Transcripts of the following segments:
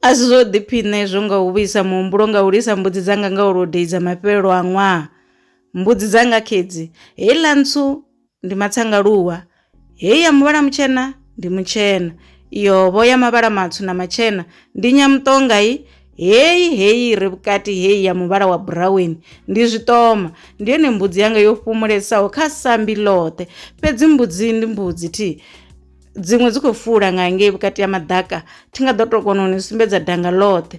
A si zwo ḓiphiṋa hezwo nga u vhuisa muhumbulo nga u lisa mbudzi dzanga nga u lodeiza mafhelelo a ṅwaha. Mbudzi dzanga khedzi, heiḽa ntswu ndi matsangaluwa, hei ya muvhala mutshena ndi mutshena, iyo vho ya mavhala matswu na matshena ndi nyamuṱonga i heyi heyi i re vhukati heyi ya muvhala wa buraweni ndi zwiṱoma. Ndi yone mbudzi yanga yo fhumulesaho kha sambi ḽoṱhe, fhedzi mbudzi ndi mbudzi thi. dziṅwe dzi khou fula nga ngei vhukati ha maḓaka thi nga ḓo to kona u ni sumbedza danga ḽoṱhe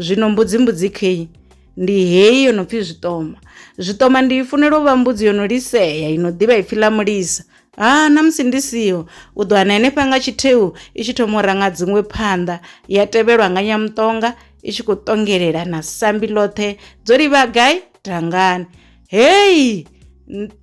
zwino mbudzi mbudzi khei ndi heyi yo no pfhi zwiṱoma zwiṱoma ndi i funela u vha mbudzi yo no lisea i no ḓivha ipfhi ḽa mulisa ha na musi ndi siho u ḓo wana henefha nga tshitheu i tshi thoma u ranga dziṅwe phanḓa ya tevhelwa nga nyamuṱonga i tshi khou ṱongelela na sambi ḽoṱhe dzo livha gai dangani Hei!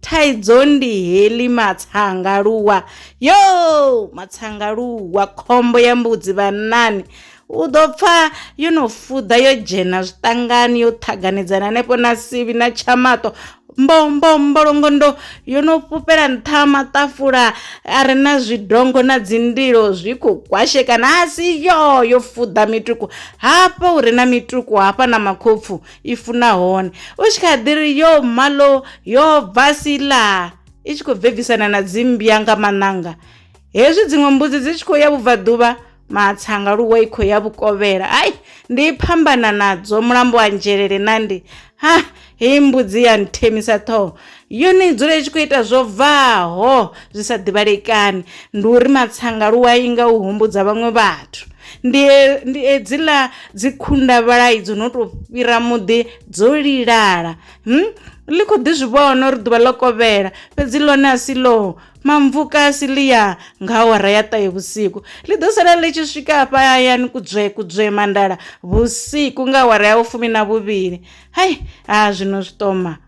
Thaidzo ndi heḽi matsangaluwa yo matsangaluwa khombo ya mbudzi vhanani u ḓo pfa yo no fuḓa yo dzhena zwiṱangani yo ṱhaganedzana hanefho na sivhi na tshamaṱo mbombo mbolongondo yo no fhufhela nṱha ha maṱafula a re na zwidongo na dzindilo zwi khou kwashekana a si yo yo fuḓa mituku hafha hu re na mituku hafha na makhopfu i funa hone u tshi kha ḓi ri yo malo yo bva sila i tshi khou bvebvisana na dzimmbya nga maṋanga hezwi dziṅwe mbudzi dzi tshi khou ya vhubvaḓuvha matsanga luwa i khou ya vhukovhela ai ndi phambana nadzo mulambo wa nzhelele nandi ha heyi mbudzi ya nthemisa ṱhoho Yone i dzula i tshi khou ita zwo bvaho zwi sa ḓivhalekani. Ndi uri matsanga lu a inga u humbudza vhaṅwe vhathu. Ndi e, ndi edziḽa dzi khundavhalai dzo no tou fhira muḓi dzo lilala. Hum, ḽi khou ḓi zwi vhona uri ḓuvha ḽo kovhela, fhedzi ḽone a si ḽo mamvuka a si ḽi ya nga awara ya ṱahe vhusiku. Ḽi ḓo sala ḽi tshi swika hafha hayani kudzwe kudzwe mandala vhusiku nga awara ya vhufumi na vhuvhili. Hai, ha zwino zwiṱoma.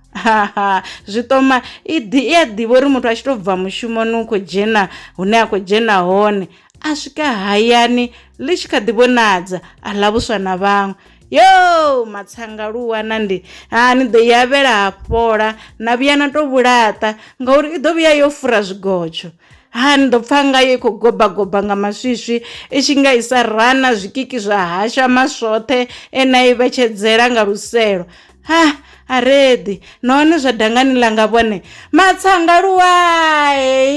zwiṱoma i ḓi i a ḓivha uri muthu a tshi to bva mushumoni u khou dzhena hune a khou dzhena hone a swika hayani ḽi tshi kha ḓi vhonadza a ḽa vhuswa na vhaṅwe yo matsanga lu wana ndi ha ni ḓo yavhela ha fhola na vhuya na to vhulaṱa ngauri i ḓo vhuya yo fura zwigotsho ha ni ḓo pfa ngayo i khou gobagoba nga maswiswi i tshi nga isa rana zwikiki zwa hasha maswoṱhe e na i vhetshedzela nga luselo ha a reḓi nahone zwa dangani ḽanga vhone matsanga luwai